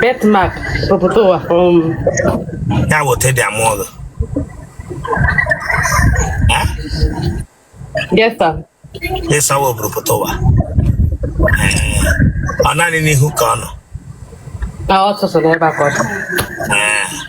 Birthmark oburu pụta ụwa um, ya bụ teddy amụọlụ yes sir. ị sị ọ wụ oburu pụta ụwa Ee, ọ naanị n'ihu ka ọ nọ Ah, ọ sọsọ n'ebe a ka ọ dị. Ee,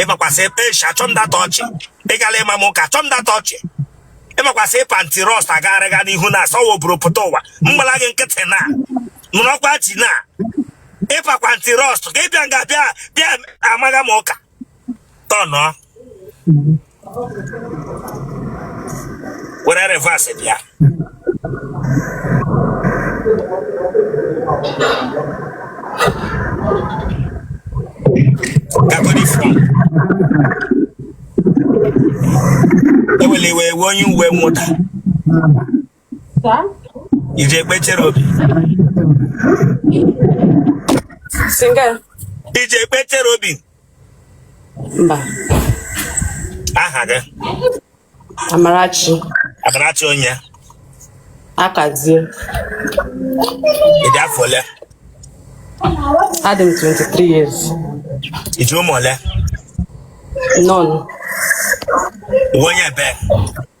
ị makwa sị eshi achọ m data ọchị ị gala ịma m ụka achọ m data ọchị ị makwa sị ị pa anti-rust agagharịga n'ihu na-asị ọ wụ oburu pụta ụwa m gbala gị nkịtị na nụrọkwa ji na ị pakwa anti-rust ka ị bịa nga bịa amaga m ụka tọnụọ were reverse bịa ga agọ uniform ewele iwe ị wụ onye uwe mwụda i ji ekpe Cherubim i ji ekpe Cherubim mba aha gị Amarachi Amarachi onye Akazie ị dị afọ ole adị m 23 years i ji ụmụ ole none onye ebe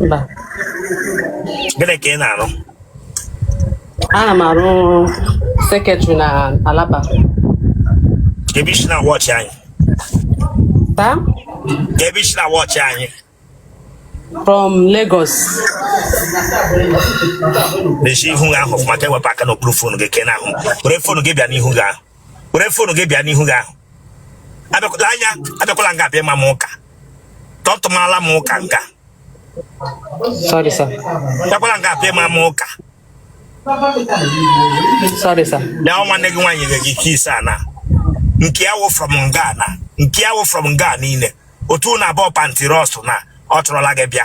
mba gịnị ka ị na-arụ ana m arụ sekretrị na Alaba kee ebe i si na-awatch anyị sir kee ebe i si na-awatch anyị from Lagos mechie ihu gị ahụ ọfụma ka i wepụ aka n'okpuru fonu gị ka ị na-ahụ m. were fonu gị bịa n'ihu gị ahụ were fonu gị bịa n'ihu gị ahụ abịakwala anya abịakwala nga bịa ma m ụka tọtụmala m ụka nga Sorry, sir. Abịakwala nga bịa ma m ụka. Sorry, sir. Na o nwanne gị nwaanyị ga gị kiss ana. Nke a wụ from Ghana. Nke a wụ from Ghana lee. Otu na abụọ pa anti-rust na ọ chọrọla gị bịa.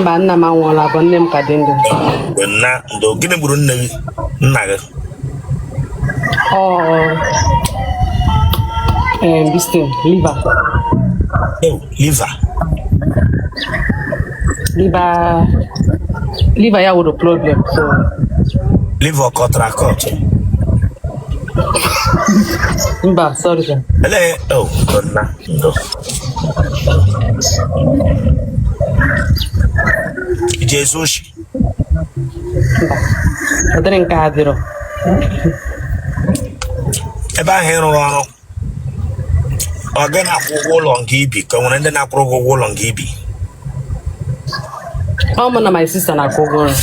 mba nna m anwụọla bụ nne m ka dị ndụ nna ndo gịnị gburu nne gị nna gị ọ um, this thing liver oh liver liver liver ya nwere problem so liver kọtara kọtụ mba sorry sir ele oh nna ndo ị ji ezu oshi ụdịrị nke a adịrọ ebe ahụ ị rụrụ ọrụ ọ gị na-akwụ ụgwọ ụlọ nke i bi ka o nwere ndị na-akwụrụ gị ụgwọ ụlọ nke i bi ọ mụ na my sister na-akwụ ụgwọ ụlọ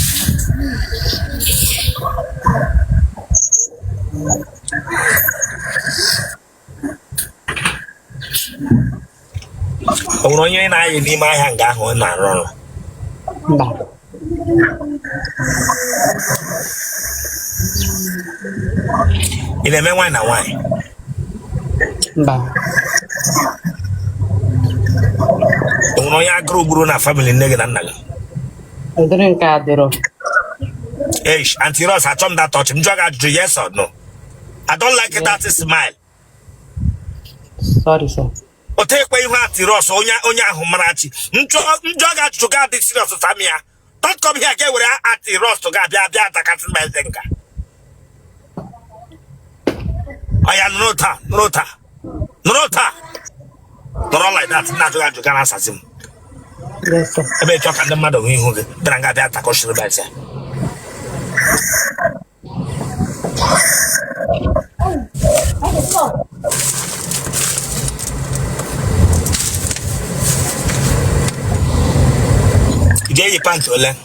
o nwere onye na-ayị n'ime ahịa nga ahụ ị na-arụ ọrụ mba ị na-eme nwaanyị na nwaanyị mba o nwere onye agụrụ gburu na family nne gị na nna gị ụdịrị nke a adịrọ eish Aunty Rose achọ m datọch m jụọ gị ajụjụ yes or no I don't like yeah. that smile. Sorry, sir. o tekwe ihu Aunty Rose onye onye ahụ mara chi m jụọ gị ajụjụ gị adị serious saa m ya don't come here gị ewere Aunty Rose gị abịa abịa atakasị m eze nga ọya nọrọ otu a nọrọ otu a nọrọ otu a nọrọ like that na-ajụ gị ajụjụ gị na-asazi m ebe ị chọ ka ndị mmadụ hụ ihu gị bịara nga bịa takọchiri baịsị Jay Pancho,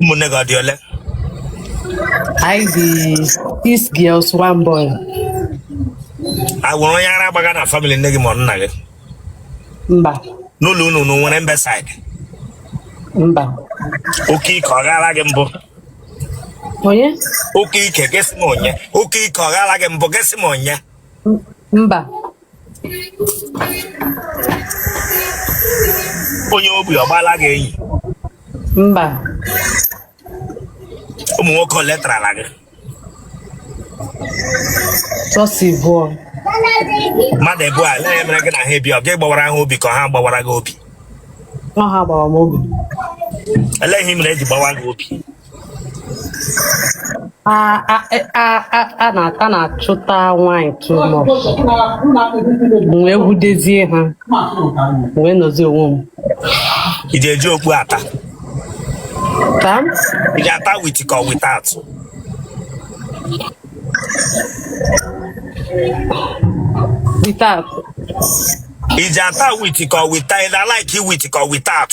ụmụnne gị ọ dị ole anyị dị six girls one boy o nwere onye ara agbaga na family nne gị ma ọ nna gị mba n'ụlọ unu unu nwere imbecile mba oke ike ọ gaala gị mbụ onye oke ike gị sị m onye oke ike ọ gaala gị mbụ gị sị m onye mba onye ogbi ọ gbaala gị enyi mba ụmụ nwoke ole tarala gị just abụọ mmadụ abụọ a elee ihe mere gị na ha ebi ọ gị gbawara ha obi ka ha gbawara gị obi ọ ha gbawara m obi elee ihe mere e ji gbawa gị obi ha na-achụta nwaanyị too much wee avoidizie ha wee nọzi onwe m ị ga-eji okpu ata Sir? ị ga-ata with ka ọ without Without. ị ji ata with ka ọ without ị na-alaiki with ka ọ without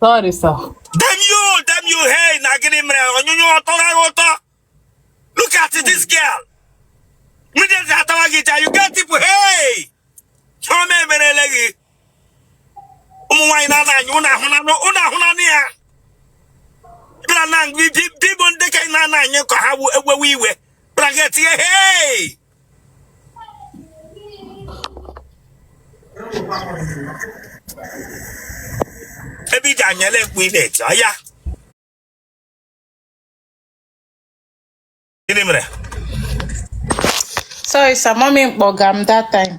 Sorry, sir. Damn you, damn you, hey, na gịnị mere onyonyo ọtọ gị ụtọ? Look at this girl. Mmiri eze atawa gị ja, wicked people, hey! Chioma emerele gị. Ụmụ nwaanyị na-ana anyị, ụnụ ahụnanụ, ụnụ ahụnanụ ya. Bịara na ngwi, bibụ ndị nke na-ana anyị ka ha ewewe iwe. Bịara gị etinye, hey! ebe ị ji anyala ekpu ị na-eti aya gịnị mere Sorry, sir. Mommy kpọga m that time.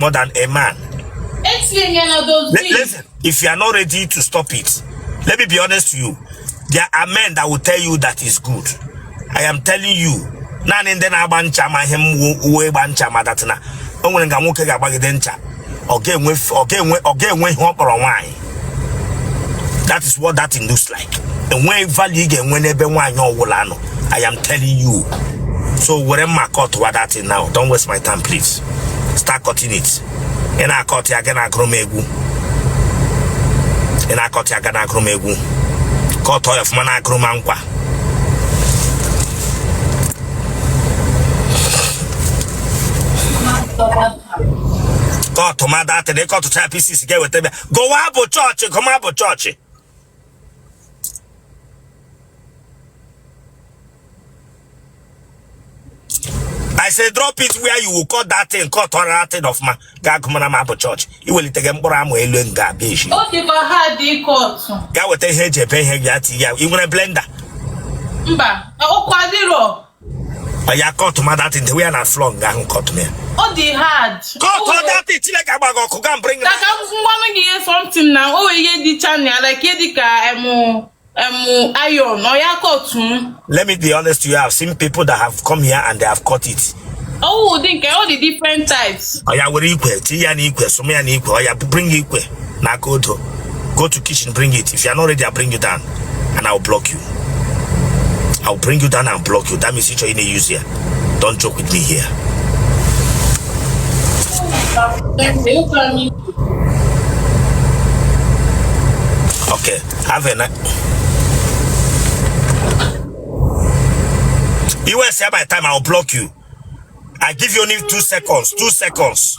more than a man. Listen, if you are not ready to stop it, let me be honest to you. There are men that will tell you that is good. I am telling you, naanị ndị na-agba ncha ma ihe ọ wụ ịgba ncha ma that thing na o nwere nga nwoke ga-agbagide ncha ọ ga-enwe ihe ọ kpọrọ nwaanyị that is what that thing looks like enweghị value ị ga-enwe n'ebe nwaanyị ọ wụla nọ i am telling you so were mma cut wa that thing now don't waste my time please start cutting it ị na-akọt ya gị na-agụrụ m egwu ị na-akọt ya gị na-agụrụ m egwu kọtọ ya ọfụma na-agụrụ m nkwa kọtụma that thing ị kọtụcha pieces gaa weta bịa gụwa abụ chọọchị gụma abụ chọọchị I say drop it where you will cut that thing, cut all that thing ọfụma gaa gụmara m abụ chọọchị ị welitere mkpụrụ amụ elu m ga-abịa echi Ọ dịkwa hard ịkọtụ. gaa weta ihe e ji ebe ihe gị ya tinye ya ị nwere blender Mba, ọkụ adịrọ. ya kọtụma that thing dewe ya na floor nga ahụ kọtụ ya ọ dị hard kọtụ that thing Chineke agba gị ọkụ gaa bring ka ka m gwanụ gị ihe something na o nwere ihe dịcha n'ime ya like ihe dị ka em em iron oya kọtụ m let me be honest to you I have seen people that have come here and they have cut it ọ wụ ụdị nke ọ dị different types oya were ikwe tinye ya n'ikwe sụma ya n'ikwe oya bring ikwe na aka odo go to kitchen bring it if you are not ready i bring you down and i will block you i will bring you down and block you that means ịchọ ị na-use ya don't joke with me here okay have a night iwe say by time i will block you i give you only two seconds two seconds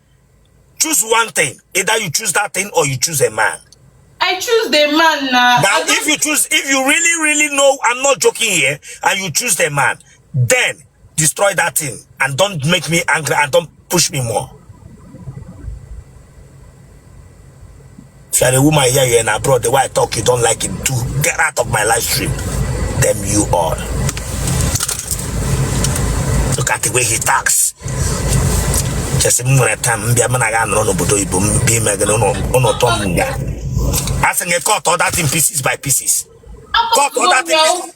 choose one thing either you choose that thing or you choose a man I choose the man now. Now, if you choose, if you really, really know, I'm not joking here, and you choose the man, then destroy that thing and don't make me angry and don't push me more. If you are a woman here, you're in abroad, the way I talk, you don't like it too. Get out of my live stream. Damn you all. Look at the way he talks. Just m nwere time bịa m na-aga anọrọ n'obodo oyibo m bịa ime gị n'ụlọ ụtọ m nga. A sị gị cut all that thing pieces by pieces. Cut all that thing pieces.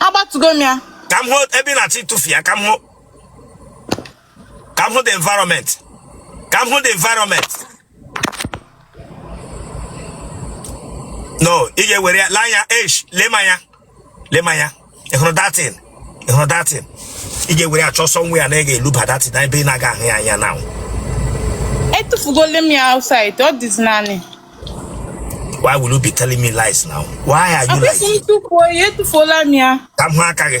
agbatugo m ya ka m hụ ebe ị na-achọ ịtụfu ya ka m hụ ka m hụ the environment ka m hụ the environment no ị ga-ewere ya laa ya ash lema anya lema ya ị hụrụ that thing ị hụrụ that thing ị ga-ewere chọọ somewhere na ị ga-eluba that thing na ebe ị na-aga ahụ ya anya na etufugole m ya outside ọ dịzi naanị why will you be telling me lies now why are you lying m tufuo ya etufuola m ya ka m hụ aka gị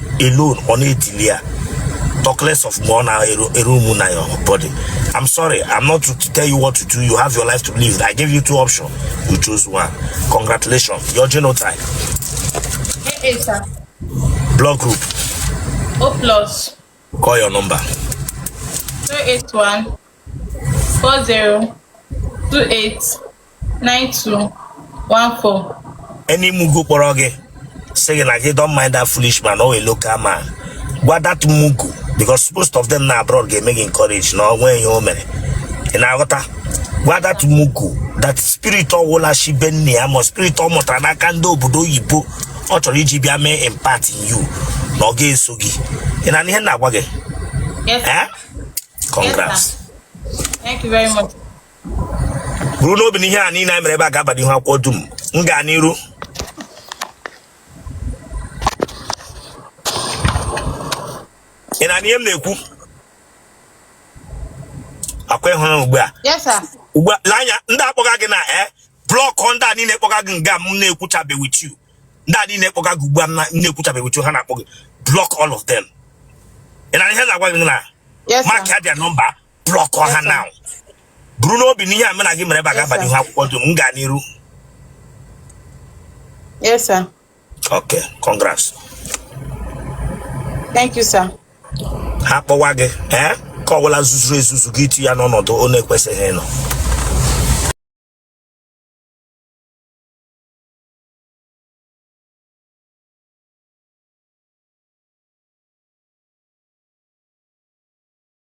alone ọ na-edili ya talk less of more now a room na your body i'm sorry i'm not to tell you what to do you have your life to live i gave you two options you chose one congratulations your genotype hey, hey, sir. blood group o plus call your number 081 40 28 9214 any mugu kpọrọ gị sị gị na gị don't mind that foolish man or a local man gwa that mugu because most of them nọ abroad ga-eme gị encourage na o nweghị ihe o mere ị na-aghọta gwa that mugu that spirit ọwụla shi be nne ya ma spirit ọ mụtara n'aka ndị obodo oyibo ọ chọrọ iji bịa mee impact in you na ọ ga-eso gị ị na-anụ ihe m na-agwa gị Yes, eh? congrats thank you very much. buru n'obi na ihe a niile anyị mere ebe a ga-aba n'ihu akwụkwọ dum m gaa n'iru ị na-anụ ihe m na-ekwu ọkwa ị hụrụ ugbu a ugbu a anya ndị a kpọga gị na e eh, block ndị a niile kpọga gị nga m na-ekwuchabe with you ndị a niile kpọga gị ugbu a m na-ekwuchabe with you ha na-akpọ gị block all of them ị na-anụ ihe m na-agwa gị na mark ya their number block ha na buru n'obi na ihe a mụ na gị mere ebe a ga-abanye ihu akwụkwọ dum m gaa n'iru Yes, sir. okay congrats Thank you, sir. ha kpọwa gị ee nke ọwụla zuzuru ezuzu gị iti ya n'ọnọdụ ọ na-ekwesịghị ịnọ